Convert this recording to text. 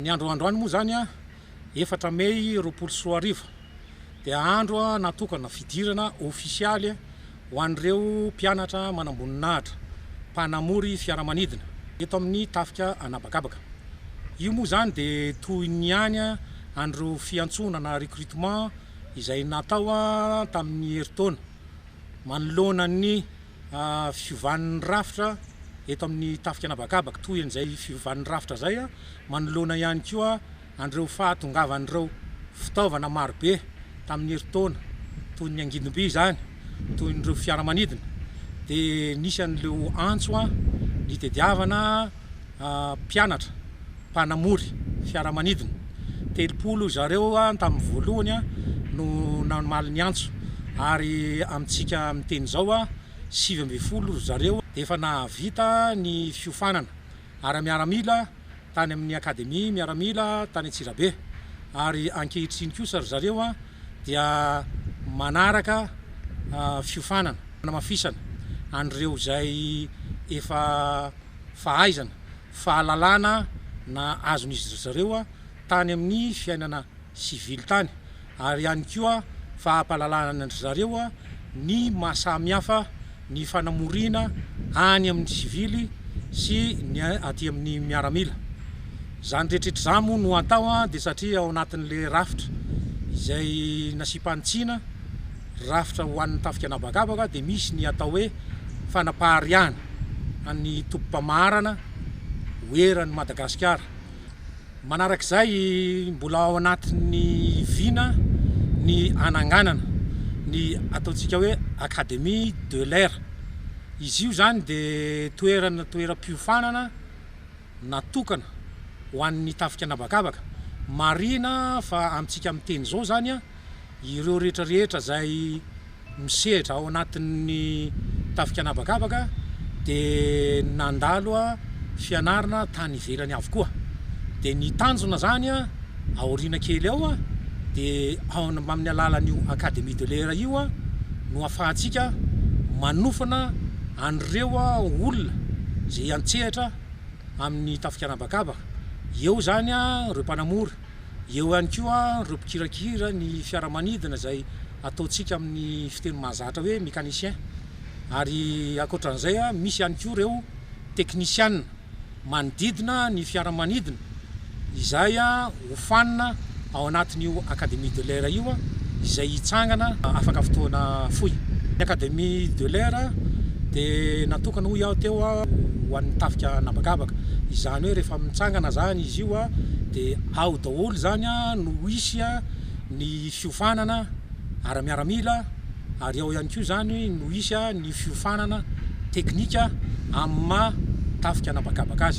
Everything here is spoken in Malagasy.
Ny andro androany moa izany efatra mey roapolo sy roa arivo dia andro natokana fidirana ofisialy ho an'ireo mpianatra manamboninahitra mpanamory fiaramanidina eto amin'ny tafika an'habakabaka. Io moa izany dia toy ny ihany an'ireo fiantsoana na recrutement izay natao tamin'ny herintaona manoloana ny Fiovan'ny rafitra eto amin'ny tafika an'habakabaka, toy an'izay fiovan'ny rafitra izay manoloana ihany koa an'ireo fahatongavan'ireo fitaovana marobe tamin'ny herintaona, toy ny angidimby izany, toy ireo fiaramanidina, dia nisy an'ireo antso nitediavana. mpianatra mpanamory fiaramanidina, telopolo zareo tamin'ny voalohany no namaly ny antso ary amintsika miteny izao sivy ambin'ny folo zareo efa nahavita ny fiofanana ara-miaramila tany amin'ny Akademia Miaramila tany Antsirabe ary ankehitriny kosa ry zareo dia manaraka fiofanana fanamafisana an'ireo izay efa fahaizana, fahalalana na azon'izy zareo tany amin'ny fiainana sivily tany ary ihany koa fahapalalana-ndry zareo ny maha samy hafa ny fanamoriana any amin'ny sivily sy ny aty amin'ny miaramila. Izany rehetra izany moa no atao dia satria ao anatin'ilay rafitra izay nasipan'i Tsina, rafitra ho an'ny tafika an'habakabaka dia misy ny atao hoe fanapahariahana. an'ny tobim-pamaharana ho eran'i Madagasikara. Manarak'izay, mbola ao anatin'ny vina ny hananganana ny ataontsika hoe Académie de l'air. Izy io izany dia toerana toeram-piofanana. natokana ho an'ny tafika an'habakabaka. Marihina fa amintsika miteny izao izany ireo rehetra rehetra izay misehatra ao anatin'ny tafika an'habakabaka dia nandalo fianarana tany ivelany avokoa. Dia ny tanjona izany. Aoriana kely ao dia amin'ny alalan'io Académie de l'Air io no afahantsika manofana an'ireo olona izay hiantsehatra amin'ny tafika an'habakabaka. Eo izany ireo mpanamory, eo ihany koa ireo mpikirakira ny fiaramanidina izay ataontsika amin'ny fiteny mahazatra hoe mécanicien. Ary ankoatra an'izay misy ihany koa ireo teknisiana. manodidina ny fiaramanidina izay hofanina ao anatin'io Académie de l'air io izay hitsangana afaka fotoana fohy. Ny Académie de l'air dia natokana hoy aho teo ho an'ny tafika an'habakabaka, izany hoe rehefa mitsangana izany izy io dia ao daholo izany no hisy ny fiofanana ara-miaramila, ary ao ihany koa izany no hisy ny fiofanana teknika amin'ny maha tafika an'habakabaka azy.